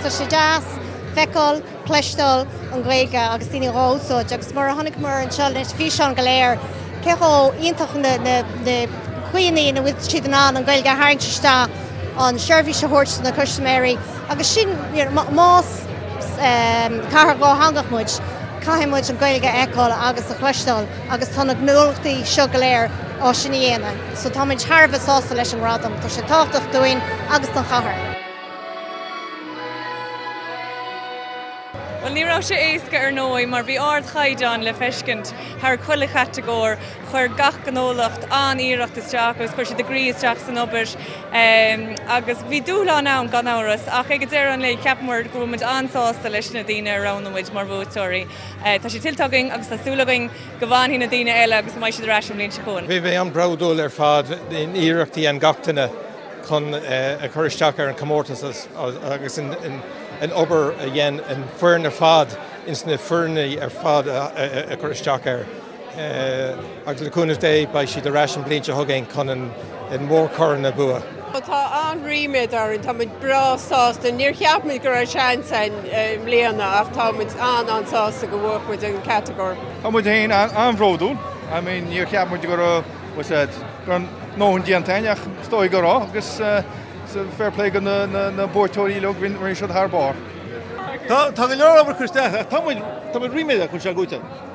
Tá sé deas feiceáil, cloisteáil an Ghaeilge agus daoine dhá úsáid agus mar a chonaiceamar anseo leis físeán go léir, cé chomh iontach na na caoi ina bhfuil siad in ann an Ghaeilge a tharraingt isteach an seirbhís a thabhairt do na custaiméirí agus sin you know más cathair dhátheangach muid, caithfidh muid an Ghaeilge a fheiceáil agus a chloisteáil. agus tá na gnólachtaí seo go léir á sin a dhéanamh so táimid thar a bheith sásta leis an ngradam, tá sé tábhachtach dúinn agus don chathair. Bhuel, ní raibh sé éasca ar ndóigh mar bhí ardchaighdeán le feiscint thar chuile chatagóir, chuir gach gnólacht an-iarracht isteach agus chuir siad a gcroí isteach san obair agus bhí dúshlán ann gan amhras ach ag an deireadh an lae ceapann muid go bhfuil muid an-sásta leis na daoine a roghnaigh muid mar bhuaiteoirí. Tá sé tuillte againn agus tá súil againn go bhfanfaidh na daoine eile agus go mbeidh siad ar ais an bhliain seo chugainn. Bhí mé an-bhródúil ar fad an iarracht a dhein gach duine chun a chur isteach ar an comórtas agus an obair a dhein an foireann ar fad ins na foirne ar fad a chur isteach air. agus le cúnamh Dé beidh siad ar ais an bhliain seo chugainn chun an mórchorn a bhua. Tá an-ríméad orainn, tá muid breá sásta. Níor cheap muid go raibh seans ann i mbliana ach tá muid an-an-sásta gur bhuaigh muid an chatagóir. Tá muid féin an-bhródúil. I mean níor cheap muid go raibh, go raibh ár ndóthain déanta againn ach is dóigh go raibh agus fair play do na buaiteoirí eile, rinne siad thar barr. Tá go leor obair curtha isteach ach tá muid ríméadach go bhfuil sé go dtí.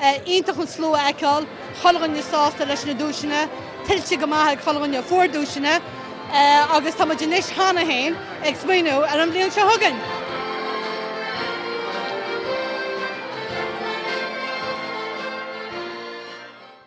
Iontach an slua a fheiceáil, chuile dhuine sásta leis na duaiseanna, tuillte go maith ag chuile dhuine a fuair duaiseanna agus tá muid anois cheana féin ag smaoineamh ar an bhliain seo chugainn!